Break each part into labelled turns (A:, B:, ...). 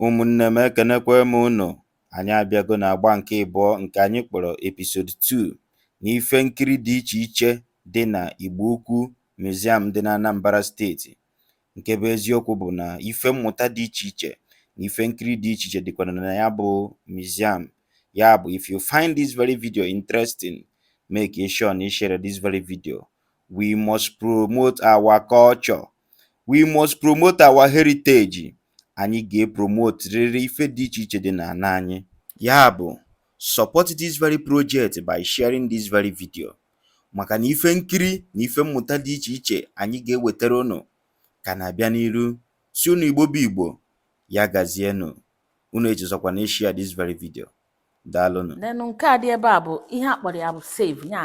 A: Ụmụnne m ekenekwe m unu anyị abịago na agba nke ịbụọ nke anyị kpọrọ episode 2 na ife nkiri dị iche iche dị na Igbo Ukwu Museum dị na Anambra steeti nke bụ eziokwu bụ na ife mmụta dị iche iche na ife nkiri dị iche iche dịkwara na ya bụ museum ya bụ if you find this very video interesting make sure na ị share this very video we must promote our culture we must promote our heritage anyị ga-epromote rịrị ife dị iche iche dị n'ana anyị ya bụ support this very project by sharing this very video maka na ife nkiri na ife mmụta dị iche iche anyị ga-ewetara unu ka na-abịa n'iru sị unu Igbo bụ Igbo ya gazienụ unu echezọkwana ịshare this very video daalụnụ then nke a dị
B: ebe a bụ ihe a kpọrọ ya bụ save ya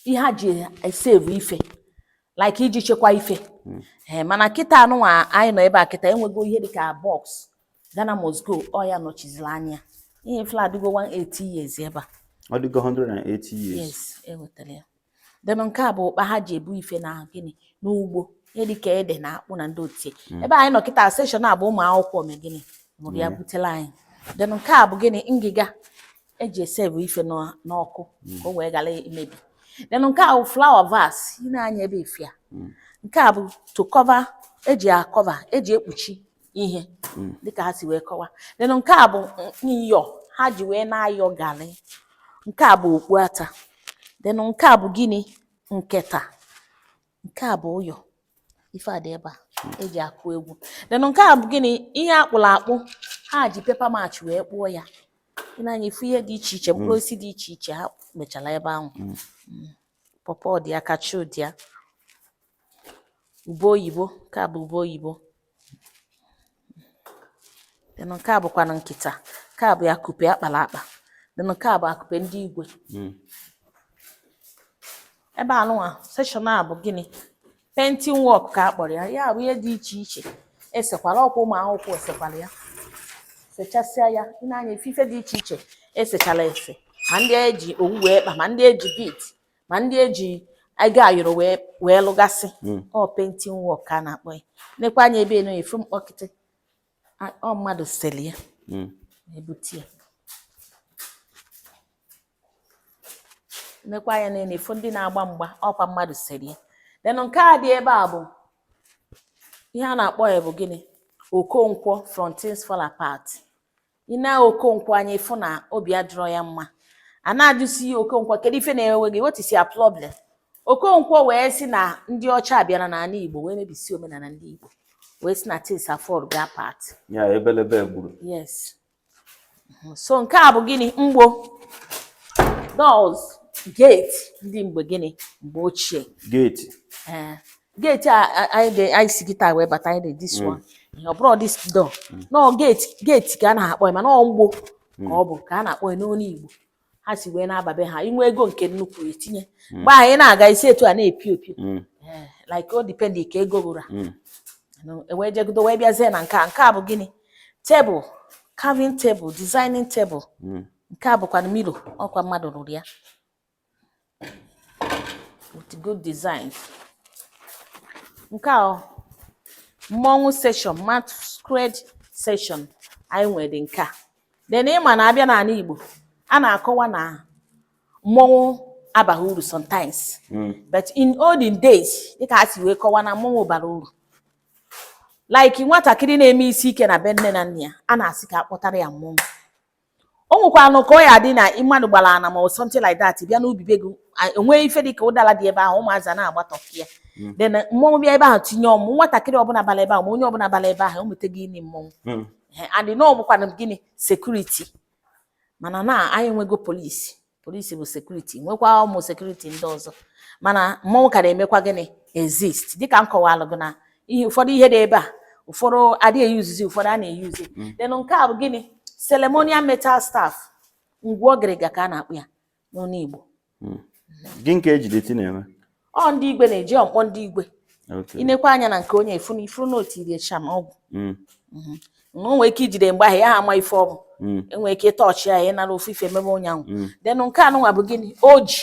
B: ihe a ji esave ife like iji chekwa ife hmm. eh, mana kịta anụnwa anyị nọ ebe a kịta enwego ihe dịka box Ghana must go ọ ya nọchiziri anya ihe afụ adịgo 180 years ebe a ọ dịgo
A: 180 years yes ewetara
B: ya then nke a bụ ụkpa ha ji ebu ife na gịnị n'ugbo ihe dịka ede na akpụ na ndị otie hmm. ebe anyị nọ kịta section a bụ ụmụ akwụkwọ me gịnị mụrụ ya hmm. butela anyị then nke a bụ gịnị ngịga eji esave ife n'ọkụ hmm. ka o wee ghara imebi then nke a bụ flower vase i nee anya ebe ị fụ ya hmm. nke a bụ to cover eji acover eji ekpuchi ihe hmm. dịka ha si wee kọwa then nke a bụ nyọ ha ji wee na-ayọ garị nke a bụ okpu ata then nke a bụ gịnị nketa nke a bụ ụyọ ife a dị ebe a eji akụ egwu then nke a bụ gịnị ihe akpụrụ akpụ ha ji paper mache wee kpụọ ya i nee anya ị fụ ihe dị iche iche mkpụrụ osisi dị iche iche ha mechara ebe ahụ pọpọ dị ya kachu dị ya ube oyibo nke a bụ ube oyibo then nke a bụkwanụ nkịta nke a bụ ya akupe akpara akpa then nke a bụ akupe ndị igwe hmm. ebe anụnwa section a bụ gịnị painting work ka a kpọrọ ya ya bụ ihe dị iche iche esekwala ọkwa ụmụ akwụkwọ esekwala ya sechasịa ya i nee anya ị fụ ife dị iche iche esechala ese ma ndị eji owu wee kpa ma ndị eji bead ma ndị eji ego ayọrọ wee lụgasị mm. ọ painting work ka a na-akpọ ya nekwa anya ebe anụ ị fụ mkpọkịtị ọ mmadụ seli ya mm. ebute ya nekwa anya na ị fụ ndị na-agba mgba ọkwa mmadụ seli ya then nke a dị ebe a bụ ihe a na-akpọ ya bụ gịnị Okonkwo from Things Fall Apart ị nee Okonkwo anya ị fụ na obi adịrọ ya mma a na-ajụsi Okonkwo kedu ife na-ewe gị what is your problem Okonkwo wee sị na ndị ọcha bịara n'ala Igbo wee mebisi omenala ndị Igbo wee sị na things afallgo apart ya
A: ebelebe gburu
B: yes so nke a bụ gịnị mgbo doors gate ndị mgbe gịnị mgbe ochie gate ee
A: eh.
B: Gate a a- anyị ga- anyị si kịta wee bata anyị dị this one. Ihe ọ bụrọ this door. No gate gate ka a na-akpọ ya mana ọ mgbo ka ọ bụ ka a na-akpọ ya n'olu Igbo. Ha si wee na-aba be ha i nwee ego nke nnukwu i tinye. Mgbe ahụ ị na-aga isi etu a na-epio epio. Mm. Eh, Like o depend ka ego ruru. Mm. No, e wee jegodo wee bịazie na nke a nke a bụ gịnị tebụl carving table designing table Mm. nke a bụkwa mirror ọkwa mmadụ rụrụ ya with good designs nke a mmọnwụ section masquerade section anyị nwere nke a then ị ma na a bịa n'ala Igbo a na-akọwa na mmọnwụ abaghị uru sometimes hmm. but in olden days dịka ha si wee kọwa na mmọnwụ bara uru like nwatakịrị na-eme isi ike na be nne na nna ya a na-asị ka a kpọtara ya mmọnwụ o nwekwanụ ka ọ ya-adị na mmadụ bala ana ma ọ something like that bịa n'ubi be gị e nwee ife dị ka ụdala dị ebe ahụ ụmụazị a na-agbatọ ya hmm. then mmọnwụ bịa ebe ahụ tinye ọmụ nwatakịrị ọbụla bala ebe ahụ ma onye ọbụla bala ebe ahụ o mete gịnị mmọnwụ hmm. and na ọ bụkwanụ gịnị security mana now anyị enwego police police bụ security nwekwa ụmụ security ndị ọzọ mana mmọnwụ ka na-emekwa gịnị exist dịka m kọwalụ gị na ihe ụfọdụ ihe dị ebe a ụfọdụ adịghị eyuzizi ụfọdụ a na-eyuzi mm. then nke a bụ gịnị ceremonial metal staff ngwu ọgịrịga ka a na-akpọ ya n'onu Igbo mm.
A: gịnị ka e ji the thing na-eme ọ ndị igwe na-eji ọ
B: mkpọ ndị igwe i nekwa anya na nke onye ị fụ na ị fụrụ na o tiri eh charm ọgwụ mm. mhm. na o nwee ike ijide mgbe ahụ ya ha ama ife ọ bụ mm. e nwee ike ịtọọchị ya n'arụ ofu ife emebe onye ahụ mm. then nke anụnwa bụ gịnị oji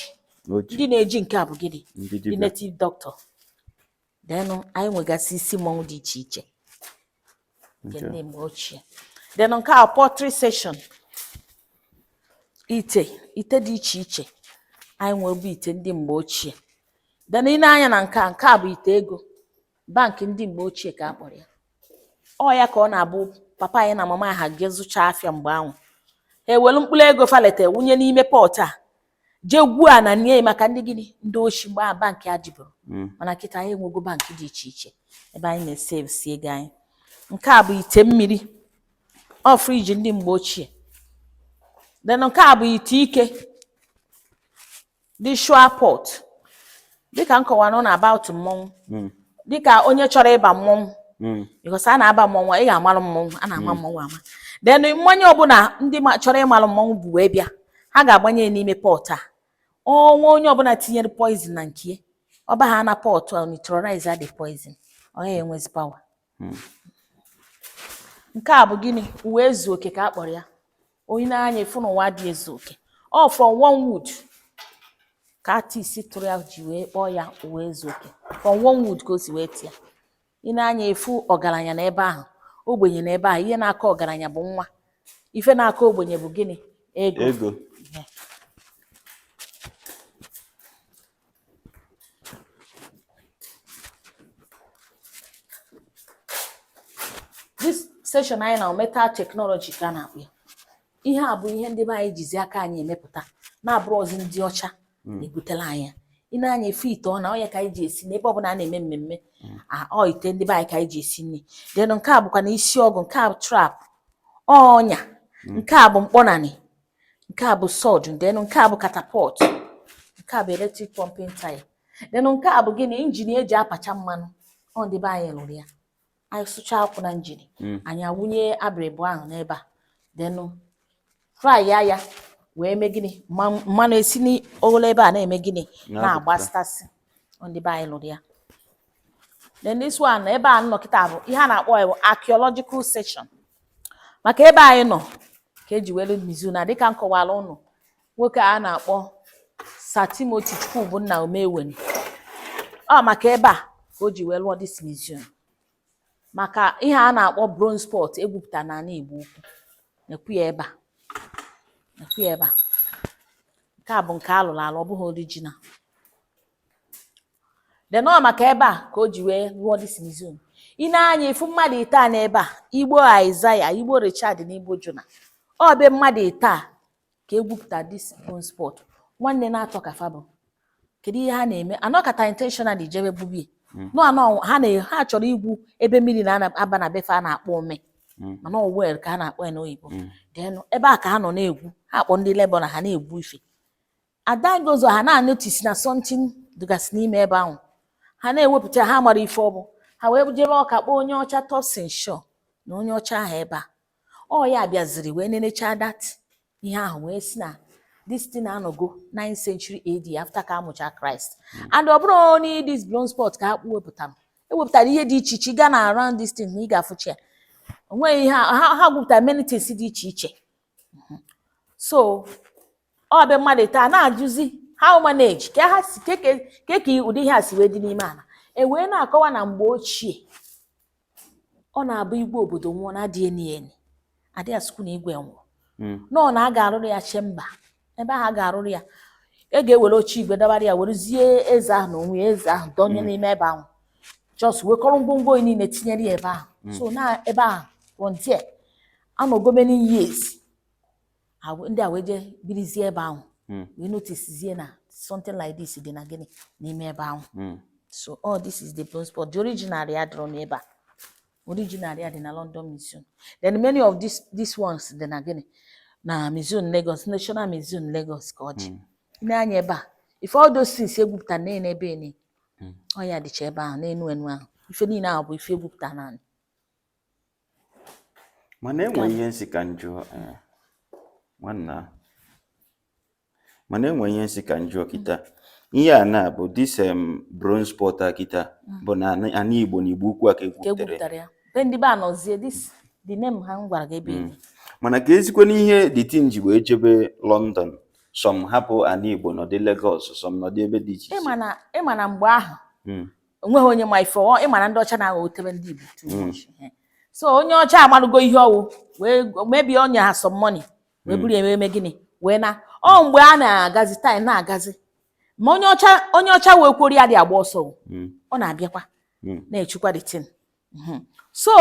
B: ndị na-eji nke a bụ gịnị ndị native doctor then anyị nwegasị isi mmọnwụ dị iche iche nke ndị mgbe ochie then nke a pottery section ite ite dị iche iche anyị nwere bụ ite ndị mgbe ochie then ị nee anya na nke a nke a bụ ite ego bank ndị mgbe ochie ka a kpọrọ ya ọ ya ka ọ na-abụ papa anyị na mama ha ga-ezụcha afịa mgbe ahụ ha ewelu mkpụrụ ego fa lete wụnye n'ime pot a je gwuo ana nie maka ndị gịnị ndị oshi mgbe ahụ bank adịburọ hmm. mana kịta anyị enwego bank dị iche iche ebe anyị na-esevsi ego anyị nke a bụ ite mmiri ọ fridge ndị mgbe ochie then nke a bụ ite ike ritual pot dịka m kọwara na about mmọnwụ mm. dịka onye chọrọ ịba mmọnwụ mm. because a na-aba mmọnwụ ị ga-amalụ mmọnwụ a na-ama mm. mmọnwụ ama then mmanya ọbụla ndị chọrọ ịmalụ mmọnwụ bu wee bịa ha ga-agbanye n'ime pot a ọnwa onye ọbụla tinyere poison na nke ọ baha na pot a neutralize the poison ọ yaha enwezi power hmm. nke a bụ gịnị ụwa ezu oke ka a kpọrọ ya i nee anya ị fụ na ụwa adị ezu oke ọ from one wood ka artist tụrụ ya ji wee kpọọ ya ụwa ezu oke from one wood ka o si wee tụọ ya i nee anya ị fụ ọgaranya na ebe ahụ ogbenye na ebe ahụ ihe na-akọ ọgaranya bụ nwa ife na-akọ ogbenye bụ gịnị ego this section anyị nọ metal technology ka a na-akpọ ya ihe a bụ ihe ndị be anyị jizi aka anyị emepụta na abụrọzi ndị ọcha na-ebutela anyị ya. i nee anya ị fụ ite ọna ọ ya ka anyị ji esi n'ebe ọ bụla a na-eme mmemme a- ọ ite ndị be anyị ka anyị ji esi nri then nke a bụkwanụ isi ọgụ nke a bụ trap ọnya nke a bụ mkpọnanị nke a bụ sword then nke a bụ catapult nke a bụ electric pumping tyre then nke a bụ gịnị injin eji apacha mmanụ ọ ndị be anyị lụrụ ya anyị sụcha akwụ na injin hmm. anyị awụnye abịrịbụ ahụ n'ebe a then fry ya ya wee mee gịnị mmanụ esi n'ogolo ebe a na-eme gịnị na-agbafụtasị ndị be anyị lụrụ ya then this one ebe a nọ kịta bụ ihe a na-akpọ ya bụ archaeological section maka ebe anyị nọ ka e ji wee lụọ museum a dịka m kọwara ụnụ nwoke a na-akpọ Sir Timothy Chukwubunna Umeweni ọ maka ebe a ka o ji wee lụọ this museum maka ihe a na-akpọ bronze pot egwupụta n'ala Igbo Ukwu nekwu ya ebe a nekwu ya ebe a nke a bụ nke a lụrụ alụ ọ bụghị original then ọ maka ebe a ka o ji wee lụọ this museum i nee anya ị fụ mmadụ ịtọ a n'ebe a Igbo Isaiah Igbo Richard na Igbo Jonah ọ be mmadụ ịtọ a ka egwupụta this bronze pot nwanne naatọ ka fa bụ kedu ihe ha na-eme anọkata intentionally jebe gwube ya Mm. nọ anọ ha na ha chọrọ igwu ebe mmiri na-aba na be fa a na-akpọ omi Mm. mana ọ well ka a na-akpọ ya n'oyibo Mm. then ebe a ka ha nọ na-egwu ha akpọ ndị labourer ha na-egwu ife adagozo ha na-anotice na something dịgasị n'ime ebe ahụ ha na-ewepụta ha amarọ ife ọ bụ ha wee jebe Ọka kpọọ onye ọcha Thurstan Shaw nee onye ọcha ahụ ebe a ọ ya bịaziri wee nenechaa that ihe ahụ wee sị na this thing anọgo 9th century AD after ka amụcha Christ and ọ bụrọ only this bronze pot ka fa wepụtara ewepụtara ihe dị iche iche ị ga na around this thing na ị ga-afụcha ya o nwere ihe ha gwupụtara many things dị iche iche so ọ bụ mmadụ taa na-ajụzi how manage ka ha si ke ka ke ka ụdị ihe a si wee dị n'ime ala e wee na-akọwa na mgbe ochie ọ na-abụ igwe obodo nwụọ na adịghị eni eni adịghị asụkwu na igwe nwụọ na ọ na a ga-arụrụ ya chamber ebe ahụ a ga-arụrụ ya a ga-ewere oche igwe dọbara ya werezie eze ahụ na onwe ya eze ahụ dọnye n'ime ebe ahụ just wekọrọ ngwongwo o nwe niile tinyere ya ebe ahụ so na ebe ahụ from there anọgo many years ndị a wee jee birizie ebe ahụ hmm. wee noticezie na something like this dị na gịnị n'ime ebe ahụ hmm. so all oh, this is the bronze pot the original ya dịrọ n'ebe a original ya dị na London Museum then many of these these ones dị na gịnị na Museum Lagos National Museum Lagos ka ọ dị hmm. nee anya ebe a ife all those things egwupụta na ebe ene ọ ya dịcha ebe ahụ n'enu enu ahụ ife niile ahụ bụ ife egwupụta n'anị
A: mana enwe ihe m sị ka m jụọ eh, nwanna mana enwe ihe m sị ka m jụọ kịta ihe a na-abụ this em bronze pot a kịta mm. bụ na ana Igbo na Igbo Ukwu a ka egwupụtara ya be ndị be
B: Anọzie this the name ahụ m gwara gị ebe mm. mana keezikwanụ
A: ihe the thing ji wee jebe London some hapụ ana Igbo nọdị Lagos some nọdị ebe dị iche iche ị ma na mgbe ahụ mm. o nweghị onye ma ife ọ ị ma na ndị ọcha na-aghọ otebe ndị Igbo too mm. much
B: so onye ọcha amalụgo ihe ọ wụ wee maybe o nye ha some money wee mm. buru eme eme gịnị wee naa ọ mgbe a na-agazi time na-agazi ma onye ọcha onye ọcha wee kwori ya dị agba ọsọ mm. ọ na-abịakwa na-echekwa the thing hmm. so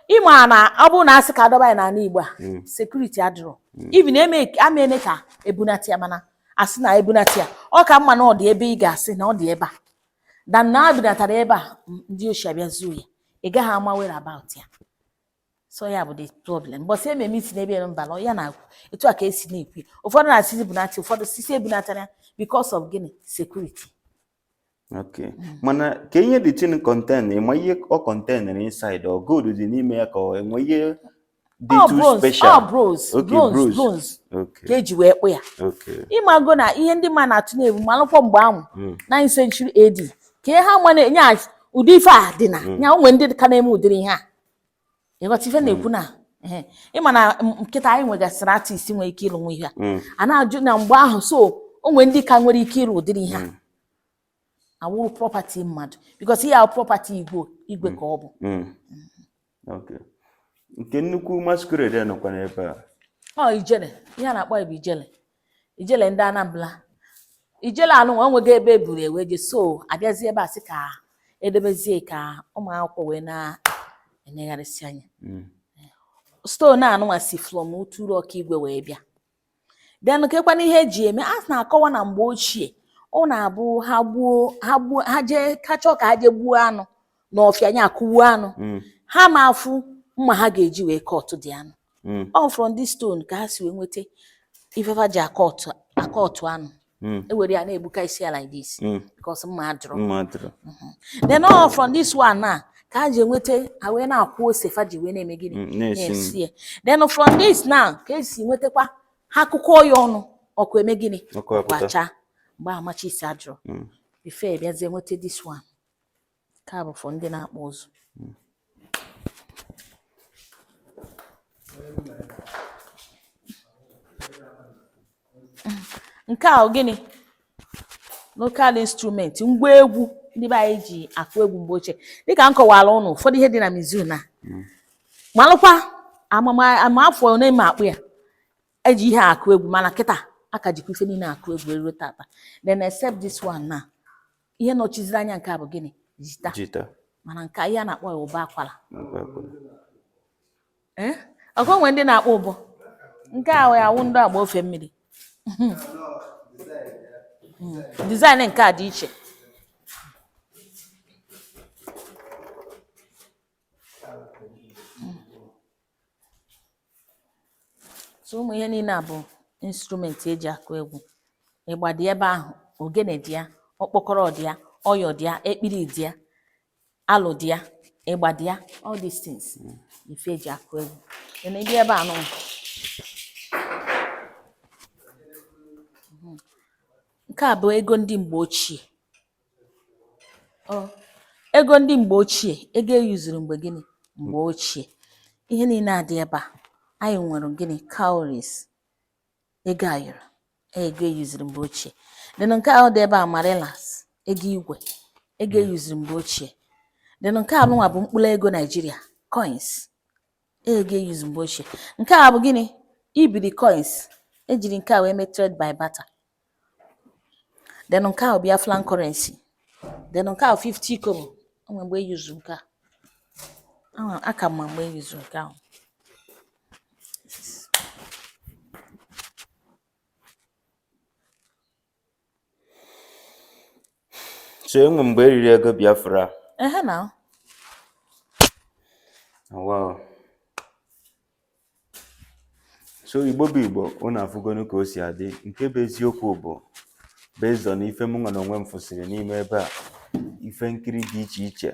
B: ị ma na ọ bụrụ na a sị ka a dọba ya n'ala Igbo a hmm. security adịrọ hmm. even a mene ka e bunata ya mana a sị na e bunata ya ọ ka mma na ọ dị ebe ị ga-asị na ọ dị ebe a than na e bunata ya ebe a ndị oshi abịa zuo ya ị gaghị ama whereabout ya so ya bụ the problem bọsị ememe isi n'ebe ya mba na ya na-agwụ etu a ka esi na-ekwu ụfọdụ na-asịzi bunata ụfọdụ sị sị ebunatana ya because of gịnị security
A: Okay. Mm. Mana kee ihe the thing contain ị ma ihe ọ contain na inside ọ gold dị n'ime ya ka ọ e nwe ihe dị oh, too special. Ọ oh, bronze, okay, bronze, bronze. Okay.
B: Ka e ji wee kpụ ya. Okay. Ị mago na ihe ndị mmadụ na-atụ na-ebu malụkwọ mgbe ahụ 9th mm. century AD ka ihe ha ma na-enye ụdị ife a dị na mm. ya o nwe ndị ka na-eme ụdịrị ihe a. ị ghọta ife na-ekwu na ehe, ị ma na m- kịta anyị nwegasịrị artist nwere ike ịlụnwu ihe a Mm. a na-ajụ na mgbe ahụ so o nwere ndị ka nwere ike ịlụ ụdịrị ihe a awụrọ property mmadụ because ihe ahụ property igwe igwe ka ọ bụ
A: Mm. Okay. nke nnukwu masquerade nọkwa n'ebe a ọ ijele
B: ihe a na-akpọ ya bụ ijele ijele ndị Anambra ijele anụnwa o nweghị ebe e buru wee je so abịazie ebe a sị ka edebezie ka ụmụ akwụkwọ wee na-enegharịsị anya hmm. stone anụnwa si from Uturu Okigwe wee bịa then kekwana ihe e ji eme a na-akọwa na mgbe ochie ọ na-abụ ha gbuo ha gbuo ha jee ha chọọ ka ha jee gbuo anụ n'ọfịa nya akụgbuo anụ hmm. ha ma afụ mma ha ga-eji wee kọtụ dị anụ mm. all from this stone ka ha si wee nweta ife fa ji akọtụ anụ mm. e were ya na-egbuka isi ya like this mm. because mma adịrọ mm-hmm. then all from this one na ka ha ji enweta ha wee na-akwọ ose fa ji wee na-eme gịnị mm, na-esi ya then from this now ka e si nwetakwa ha a kụkọọ ya ọnụ ọkụ eme gịnị kwacha mgbe matches adịrọ before a bịazie nweta this one Nke a bụ for ndị na-akpụ ụzụ. Nke a ọ gịnị? Local instrument, ngwa egwu ndị be anyị ji akụ egwu mgbe ochie. Dịka m kọwara ụnụ ụfọdụ ihe dị na museum na malụkwa ama afọ ole ma akpụ ya eji ihe akụ egwu mana kịta a ka jikwa ife niile akụ egwu eruo tata then except this one na ihe nọchiziri anya nke a bụ gịnị jita jita mana nke a ihe a na-akpọ ya ụbọ akwara nakwa akwara. Eh? ọkwa e nwe ndị na-akpọ ụbọ nke a wee awụ ndị agba ofe mmiri Mm, design nke a dị iche so ụmụ ihe niile a bụ instrument e ji akụ egwu ịgba dị ebe ahụ ogene dị ya ọkpọkọrọ dị ya ọyọ dị ya ekpiri dị ya alo dị ya ịgba dị ya all these things ife e ji akụ egwu na ị bịa ebe anụ nke a bụ ego ndị mgbe ochie Oh, ego ndị mgbe ochie ego e yuzuru mgbe gịnị mgbe ochie ihe niile a dị ebe a anyị nwere gịnị cowries ego ayọrọ ego e yuzuru mgbe ochie then nke ahụ dị ebe a manillas ego igwe ego e yuzuru mgbe ochie then nke anụnwa bụ mkpụrụ ego Nigeria coins ego e yuzu mgbe ochie nke a bụ gịnị ibiri coins e jiri nke a wee mee trade by barter then nke a bụ Biafran currency then nke a 50 kobo o nwere mgbe e yuzu nke a Ama- aka m ma mgbe e yuzu nke ahụ
A: so e nwe mgbe e riri ego Biafra ehe na
B: wow
A: so igbo bụ igbo unu afụgonu ka o si adị nke bụ eziokwu bụ based on ife mụ nwa na onwe m fụsịrị n'ime ebe a ife nkiri dị iche iche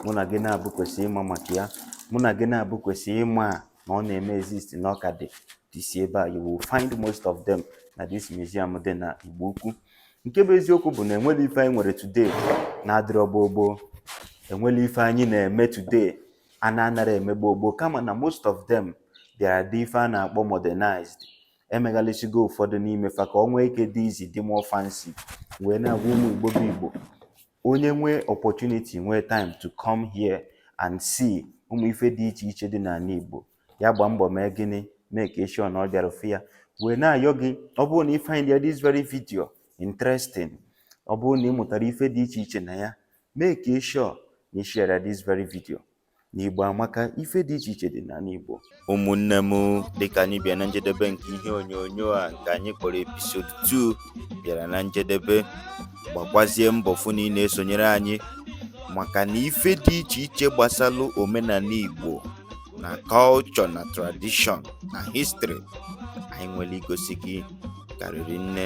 A: mụ na gị naabọ kwesị ịma maka ya mụ na gị naabọ kwesị ịma na ọ na-eme exist na ọ ka dịsị ebe a you will find most of them na this museum dị na igbo ukwu nke bụ eziokwu bụ na enwere ife anyị nwere today na-adịrọ gboo gboo enwere ife anyị na-eme today a na-anara eme gboo gboo kama na most of them bịara dị ife a na-akpọ modernized emeghalịsigo ụfọdụ n'ime fa ka ọ nwee ike dịzị dị more fancy wee na-agwa ụmụ igbo bụ igbo onye nwee opportunity nwee time to come here and see ụmụ ife dị iche iche dị n'ala igbo ya gbaa mbọ mee gịnị make sure na ọ bịara fụ ya wee na-ayọ gị ọ bụrụ na ị find this very video interesting ọ bụrụ na ị mụtara ife dị iche iche na ya Make sure na ị share this very video. Na Igbo amaka, ife dị iche iche dị n'ala Igbo. Ụmụnne m dịka anyị bịa na njedebe nke ihe onyonyo a nke anyị kpọrọ episode 2 bịara na njedebe gbakwazie mbọ fụ na ị na-esonyere anyị maka na ife dị iche iche gbasalụ omenala Igbo na culture na tradition na history anyị nwere igosi gị karịrị nne